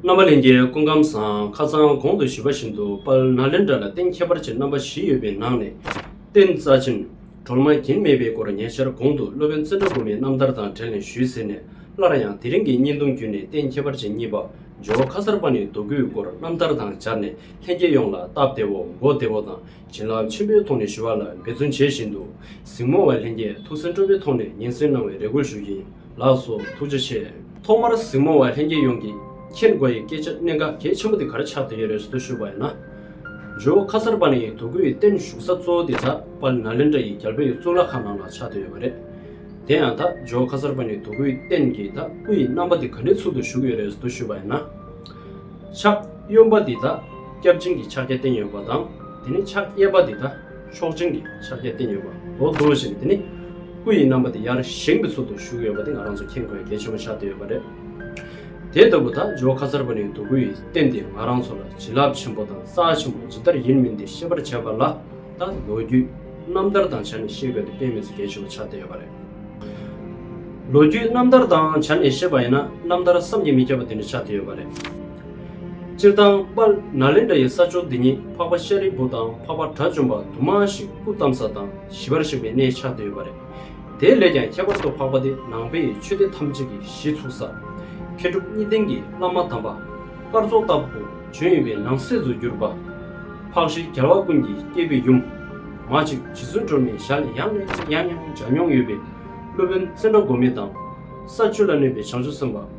རྣམ་པ་ལེན་རྒྱའི་སྐུ་ཁམས་བཟང་ཁ་ཚང་གོང་དུ་བཞུད་པ་བཞིན་དུ་དཔལ་ནཱ་ལེནྡྲ་ལ་རྟེན་ཁྱད་པར་ཅན་རྣམ་པ་བཞི་ཡོད་པའི་ནང་ནས། རྟེན་རྩ་ཆེན། གྲོལ་མ་གྱིན་མེད་པའི་སྐོར་ཉེ་ཆར་གོང་དུ་སློབ་དཔོན་ཙནྡྲ་གུ་མའི་རྣམ་ཐར་དང་བྲལ་ནས་ཞུས་ཟེར་ནས་སླར་ཡང་དེ་རིང་གི་བརྙན་ཐུང་བརྒྱུད་ནས་རྟེན་ཁྱད་པར་ཅན་གཉིས་པ་ཇོ་བོ་ཁ་གསར་པ་ནས་བསྡུ་དགོས་སྐོར་རྣམ་ཐར་དང་སྦྱར་ནས་ལྷན་རྒྱས་ཡོངས་ལ་སྟབས་བདེ་བོ་མགོ་བདེ་བོ་དང་བྱིན་རླབས་ཆེན་པོའི་ཐོག་ནས་ཞུ་བ་ལ་འབད་བརྩོན་བྱེད་བཞིན་འདུག་གཟིགས་མོ་བ་ལྷན་རྒྱས་ཐུགས་སེམས་སྤྲོ་པོའི་ཐོག་ནས་ཉན་ཟིན་གནང་བའི་རེ་སྐུལ་ཞུ་རྒྱུ་ཡིན། ལགས་སོ་ཐུགས་རྗེ་ཆེ། ཐོག་མར་གཟིགས་མོ་བ་ལྷན་རྒྱས་ཡོངས་ཀྱིས་མཁྱེན་དགོས་ཡི་སྐད་ཆ་གནད་འགག་གལ་ཆེན་པོ་དེ་གར་ཆགས་བསྡད་ཡོད་རེད་ཟུར་ཞུ་བ་ཡིན་ན། ཇོ་བོ་ཁ་གསར་པ་ནི་དོ་ཀུ་ཡི་བརྟན་བཞུགས་ས་གཙོ་བོ་དེ་ཛག་པཱལ་ན་ལེནྡྲ་ཡི་རྒྱལ་པོ་ཡི་གཙུག་ལག་ཁང་ནང་ལ་ཆགས་བསྡད་ཡོད་པ་རེད། དེ་ཡང་དག་ཇོ་བོ་ཁ་གསར་པ་ནི་དོ་ཀུ་ཡི་བརྟན་གྱི་དག་སྐུ་ཡི་རྣམ་པ་དེ་ག་ནས་ཚུགས་འདུག་བཞུགས་ཡོད་རེད་ཟུར་ཞུ་བ་ཡིན་ན། ཕྱག་གཡོན་པ་འདི་དག་སྐྱབས་སྦྱིན་གྱི་ཕྱག་རྒྱ་བསྟན་ཡོད་པ་དང་དེ་ནས་ཕྱག་གཡས་པ་འདི་དག། མཆོག་སྦྱིན་གྱི་ཕྱག་རྒྱ་བསྟན་ཡོད་པ་མདོར་བསྡུ་བཞིན་དེ་ནི་སྐུ་ཡི་རྣམ་པ་དེ་ཡར་བཞེངས་པའི་ཚུལ་དུ་བཞུགས་ཡོད་པ་དེ་ང་རང་ཚོ་མཁྱེན་དགོས་གལ་ཆེན་པོ་ཆགས་བསྡད་ཡོད་པ་རེད། དེ་ལྟ་བུ་དག་ཇོ་ཁ་གསར་པ་ནས་འདུག་གུ་ཡི་རྟེན་དེ་ང་རང་ཚོ་ལ་བྱིན་རླབས་ཆེན་པོ་དང་རྩ་ཆེན་པོ་ཇི་ལྟར་ཡིན་མིན་དེ་ཤེས་པར་བྱས་པ་ལ་ད་ལོ་རྒྱུས་རྣམ་ཐར་དང་བྱ་ནས་ཤེས་དགོས་དེ་དཔེ་མེད་ཚོ་གལ་ཆེན་པོ་ཆགས་བསྡད་ཡོད་པ་རེད། ལོ་རྒྱུས་རྣམ་ཐར་དང་བྱ་ནས་ཤེས་པ་ཡིན་ན་རྣམ་ཐར་བསམ་གྱིས་མི་ཁྱབ་པ་དེ་འདྲ་ཆགས་བསྡད་ཡོད་པ་རེད། སྤྱིར་བཏང་པ་ན་ལེནྡྲ་ཡི་ས་ཕྱོགས་འདི་ཉིད་འཕགས་པ་ཤཱ་རིའི་བུ་དང་འཕགས་པ་དགྲ་བཅོམ་པ་དུ་མ་ཞིག་སྐུ་བལྟམས་ས་དང་ཞི་བར་གཤེགས་པའི་གནས་ཆགས་འདོད་ཡོད་པ་རེད། དེ་ལས་ཀྱང་ཁྱད་པར་དུ་འཕགས་པ་འདི་ནང་པའི་ཆོས་སྡེ་ཐམས་ཅད་ཀྱི་གཞི་ཚུགས་ས། མཁས་གྲུབ་གཉིས་ལྡན་གྱི་བླ་མ་དམ་པ། སྐར་ཚོགས་ལྟ་བུ་བྱོན་ཡོད་པའི་ནང་གསེས་སུ་གྱུར་པ། འཕགས་ཤྲཱི་རྒྱལ་བ་ཀུན་གྱི་སྐྱེས་བུའི་ཡུམ། མ་གཅིག་རྗེ་བཙུན་སྒྲོལ་མའི་ཞལ་ནས་ཡང་ནས་ཡང་ཡང་སྦྱར་མྱོང་ཡོད་པའི་སློབ་དཔོན་ཙནྡྲ་འགོ་མེད་དང། ས་བཅུ་ལ་གནས་པའི་བྱང་ཆུབ་སེམས་དཔའ།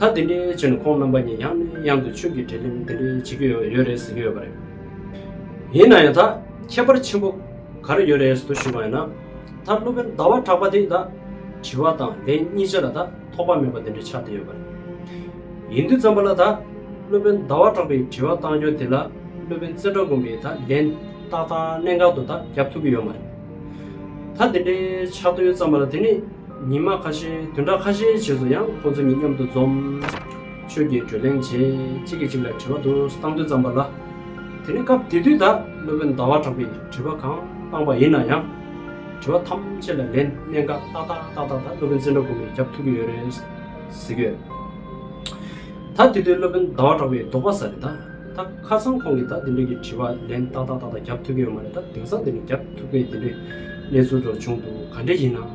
ད་དེ་འདྲའི་ཆེ་ནས་ཁོང་རྣམ་པ་གཉིས་ཡང་ནས་ཡང་དུ་ཆོས་ཀྱི་དྲིས་ལན་དེ་འདྲའི་བྱེད་ཀྱི་ཡོད་རེད་ཟེར་གྱི་ཡོད་པ་རེད། ཡིན་ན་ཡང་ད་ཁྱད་པར་ཆེན་པོ་ག་རེ་ཡོད་རེད་ཟེར་དུ་ཞུས་པ་ཡིན་ན། ད་སློབ་དཔོན་ཟླ་བ་གྲགས་པ་དེས་ད་དྲི་བ་དང་ལན་གཉིས་ཅན་ལ་ད་ཐོགས་པ་མེད་པ་དེ་འདྲ་ཆགས་བསྡད་ཡོད་པ་རེད། ཡིན་དུས་བརྩམས་པ་ལ་ད་སློབ་དཔོན་ཟླ་བ་གྲགས་པའི་དྲི་བ་བཏང་རྒྱུ་དེ་ལ་སློབ་དཔོན་རྩེ་གྲགས་དགོན་པས་ད་ལན་ཏག་ཏག་གནད་འགག་ཏུ་ད་རྒྱབ་ཐུབ་ཀྱི་ཡོད་མ་རེད། ད་དེ་འདྲའི་ཆགས་དོན་བརྩམས་པ་ལ་དེ་ནི། ཉི་མ་ཁ་ཤས་དུས་འདྲ་ཁ་ཤས་བྱས་སུ་ཡང་ཁོང་ཚོ་གཉིས་མཉམ་དུ་འཛོམས། ཆོས་ཀྱི་བགྲོ་གླེང་བྱས་གཅིག་གིས་གཅིག་ལ་དྲི་བ་དུ་བཏང་དུས་ཙམ་པ་ལ། དེ་ནི་སྐབས་དེ་དུས་དག་སློབ་དཔོན་ཟླ་བ་གྲགས་པས་དྲི་བ་གང་བཏང་པ་ཡིན་ན་ཡང། དྲི་བ་ཐམས་ཅད་ལ་ལན་གནད་འགག་ཏག་ཏག་ཏག་ཏག་དག་སློབ་དཔོན་བཙན་བྲོད་དགོངས་པས་རྒྱབ་ཐུག་གི་ཡོད་རེད། ཟེར་གི་ཡོད། ད་དེ་དུས་སློབ་དཔོན་ཟླ་བ་གྲགས་པའི་ལྡོག་པ་ས་རེད་ད། ད་ཁ་སང་ཁོང་གིས་ད་དེ་འདྲའི་གི་དྲི་བ་ལན་ཏག་ཏག་ཏག་ཏག་རྒྱབ་ཐུག་གི་ཡོད་མ་རེད་ད་དེང་སང་དེ་ནི་རྒྱབ་ཐུག་པའི་དེ་འདྲའི་གནས་ཚུལ་འགྲོ་བྱུང་འདུག་ག་འདྲའི་ཡིན་ན།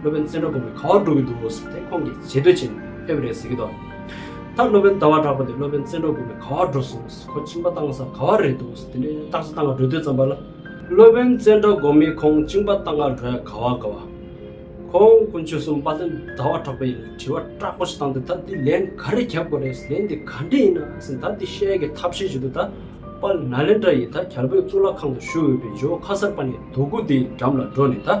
སློབ་དཔོན་བཙན་བྲོ་དགོན་པའི་ཁ་བ་འགྲོ་གི་འདུག་ཟེར་ཏེ་ཁོང་གིས་བྱེས་སྡོད་བྱས་ནས་ཕེབས་རེད་ཟེར་གྱི་འདུག་མཐར་སློབ་དཔོན་ཟླ་བ་གྲགས་པ་དེ་སློབ་དཔོན་བཙན་བྲོ་དགོན་པའི་ཁ་བ་འགྲོ་སོང་ཟེར་ཁོ་བཅིངས་པ་བཏང་ས་ག་བ་རེད་འདུག་ཟེར་དེ་འདྲའི་སྟག་ཆ་སྟག་ང་འགྲོ་དུས་ཙམ་པ་ལ། སློབ་དཔོན་བཙན་བྲོ་དགོན་མིས་ཁོང་བཅིངས་པ་བཏང་ང་འགྲོ་ཡ་ག་བ་ག་བ། ཁོང་དཀོན་མཆོག་སུམ་པ་དོན་ཟླ་བ་གྲགས་པ་ཡིན་ནས་དྲི་བ་སྐྲག་པོ་ཞིག་བཏང་སྟེ་ད་འདི་ལན་ག་རེ་རྒྱབ་དགོས་རེད་ཟེར་ལན་འདི་ག་འདྲས་ཡིན་ན་ཟེར་ད་འདི་བཤད་ཀྱི་ཐབས་ཤེས་བྱེད་དུ་ད་པ་ལ་ན་ལེན་དྲ་ཡི་ད་གྱར་བོད་གཙུག་ལག་ཁང་དུ་བཞུགས་འོས་པའི་ཇོ་ཁ་གསར་པ་ནས་དོ་ཀུ་དེའི་འགྲམ་ལ་འགྲོ་ནས་ད།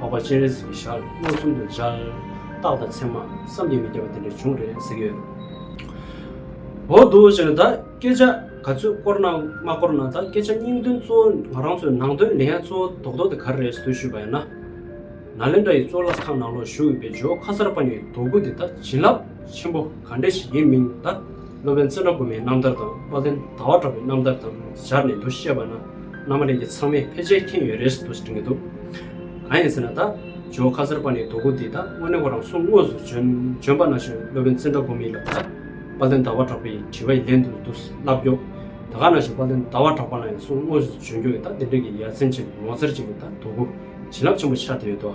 འཕགས་པ་སྤྱན་རས་གཟིགས་ཀྱི་ཞལ་མངོན་སུམ་དུ་མཇལ། རྟགས་དང་མཚན་མ་བསམ་གྱིས་མི་ཁྱབ་པ་དེ་འདྲ་བྱུང་རེད་ཟེར་གྱི་ཡོད། འོ་རྡོ་རྗེ་ལ་ད་སྐད་ཆ་ག་ཚོད་བསྐོར་ན་མ་བསྐོར་ན་ད་སྐད་ཆ་སྙིང་དོན་གཙོ་བོ་ང་རང་ཚོའི་ནང་དོན་ལས་ཡ་གཙོ་བོ་དོག་དོག་དེ་ག་རེ་རེད་ཟེར་ཞུས་པ་ཡིན་ན། ནཱ་ལེནྡྲ་ཡི་གཙུག་ལག་ཁང་ནང་ལོགས་བཞུགས་ཡོད་པའི་ཇོ་ཁ་སར་པ་ཉིད་དོ་དགུ་དེ་ད་བྱིན་རླབས་ཆེན་པོ་ག་འདྲ་ཞིག་ཡིན་མིན་ད། སློབ་དཔོན་བཙུན་དྲག་སྒོ་མའི་རྣམ་ཐར་དང་དཔལ་ལྡན་ཟླ་བ་གྲགས་པའི་རྣམ་ཐར་དང་སྦྱར་ནས་འདུ་ཤེས་པ་ན་རྣམ་པ་གླིང་གི་ཚང་མས་ཕལ་ཆེར་མཁྱེན་ཡོད་རེད་འདུག་གང་ཡིན་ཟེར་ན་ད་ཇོ་ཁ་ཟེར་པ་ནི་རྡོ་སྐུ་འདི་ད་དངོས་གནས་ཁོ་རང་སོང་དངོས་སུ་བྱོན་པ་ན་བྱོན་སློབ་དཔོན་བཙུན་དྲག་སྒོ་མི་ལ་ད་དཔལ་ལྡན་ཟླ་བ་གྲགས་པའི་དྲི་བ་ཡི་ལན་དུ་འདུག་ལབ་རྒྱོབ་ད་ག་ན་བྱོན་དཔལ་ལྡན་ཟླ་བ་གྲགས་པ་ལ་ཡང་སོང་དངོས་སུ་བྱོན་རྒྱུ་ཡོད་ད་དེ་འདྲ་གི་ཡ་མཚན་ཅན་ངོ་མཚར་ཅན་གྱི་ད་རྡོ་སྐུ། བྱིན་རླབས་ཆེན་པོ་ཆགས་ཐུབ་ཡོད་དོ།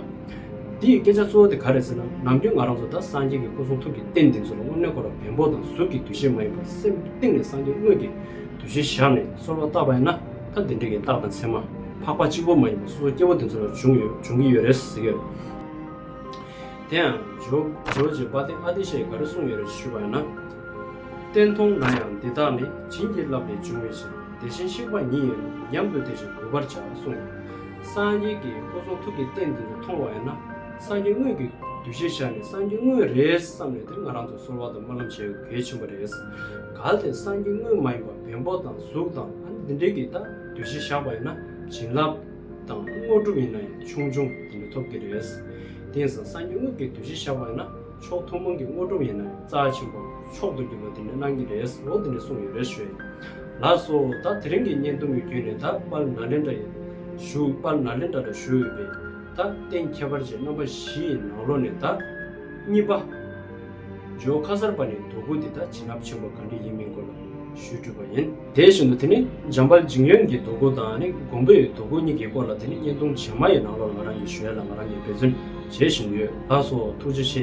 འདི་ཡི་སྐད་ཆ་གཙོ་བོ་དེ་ག་རེད་ཟེར་ན་ནམ་རྒྱུན་ང་རང་ཚོ་དང་སངས་རྒྱས་ཀྱི་སྐུ་གསུང་ཐུགས་ཀྱི་རྟེན་འདི་ཚོ་ལ་དངོས་གནས་ཁོ་རང་བེམ་པོ་དང་གཟུགས་ཀྱི་འདུ་ཤེས་མ་ཡིན་པར་སེམས་གཏིང་ནས་སངས་རྒྱས་དངོས་ཀྱི་འདུ་ཤེས་བཞག་ནས་གསོལ་བ་བཏབ་པ་ཡིན་ན་ཐ་དེ་འདྲ་གི་རྟགས་དང་མཚན་མ་འཕགས་པ་གཅིག་པོ་མ་ཡིན་པར་སོ་སོ་སྐྱེ་བོ་དེ་ཚོ་ལ་བྱུང་ཡོད་འབྱུང་གི་ཡོད་རེད་ཟེར་གི་རེད། དེ་ཡང་ཇོ་ཇོ་རྗེ་འབའ་ཏི་ཨ་ཏི་ཤས་ག་རེ་གསུངས་ཡོད་རེད་ཞུས་པ་ཡིན་ན། བསྟན་མཐོང་ན་ཡང་འདི་དག་ནི་བྱིན་གྱིས་བརླབས་ལས་བྱུང་བའི་ཕྱིར་དེ་བཞིན་གཤེགས་པ་ཉིད་ཡིན་ནོ་སྙམ་དུ་དེ་བཞིན་དགོད་པར་བྱ་གསུངས་ཡོད། སངས་རྒྱས་ཀྱི་སྐུ་གསུང་ཐུགས་ཀྱི་རྟེན་འདི་ལྟར་མཐོང་བ་ཡིན་ན་སངས་རྒྱས་དངོས་ཀྱི་གདུལ་བྱའི་ཞག་ནི་སངས་རྒྱས་དངོས་རེད་བསམ་ནས་དེ་ང་རང་ཚོ་གསོལ་བ་དང་སྨོན་ལམ་བྱེད་དགོས་གལ་ཆེན་པོ་རེད། གལ་ཏེ་སངས་རྒྱས་དངོས་མ་ཡིན་པར་བེམ་པོ་དང་གཟུགས་དང་ཨ་ནི་འདི་འདྲའི་གིས་ད་གདུལ་བྱའི་ཞག་པ་ཡིན་ན་བྱིན་རླབས་དང་དངོས་གྲུབ་ཡིན་ན་ཡང་ཆུང་ཆུང་འདི་འདྲ་ཐོབ་ཀྱི་རེད། དེང་སང་སངས་རྒྱས་དངོས་ཀྱི་གདུལ་བྱའི་ཞག་པ་ཡིན་ན་ཕྱོགས་ཐུན་མོང་གི་དངོས་གྲུབ་ཡིན་ན་ཡང་རྩ་ཆེན་པོ་མཆོག་ཏུ་གྱུར་པ་དེ་ནི་གནང་གི་རེད་ཟེར་བོ་དེ་ནས་གསུངས་ཡོད་རེད་ཞུས། ལགས་སོ། ད་དེ་རིང་གི་བརྙན་ཐུང་གི་བརྒྱུད་ནས་ད་དཔལ་ནཱ་ལེནྡྲ་ཡི། ཞུ། དཔལ་ནཱ་ལེནྡྲ་ལ་ཞུ་འོས་པའི། ད་རྟེན་ཁྱད་པར་ཅན་རྣམ་པ་བཞི་ཡི་ནང་ལོ་ནས་ད། གཉིས་པ། ཇོ་ཁ་གསར་པ་ནས་དོ་ཁུར་དེ་ད་བྱིན་རླབས་ཆེན་པོ་ག་འདྲ་ཡིན་མིན་སྐོར་ལ་ཞུས་དྲུས་པ་ཡིན། དེ་བཞིན་དུ་དེ་ནི་འཇམ་དཔལ་འཇིང་ཡོན་གྱི་དོ་ཁུར་དང་ནི་འགོང་པོ་ཡི་དོ་ཁུར་གཉིས་ཀྱི་སྐོར་ལ་དེ་ནི་བརྙན་ཐུང་བྱེ་མ་ཡི་ནང་ལོགས་ང་རང་གིས་ཞུས་ཡ་ལ་ང་རང་གིས་འབད་བརྩོན་བྱེད་བཞིན་ཡོད་ལགས་སོ་ཐུགས་རྗེ་ཆེ།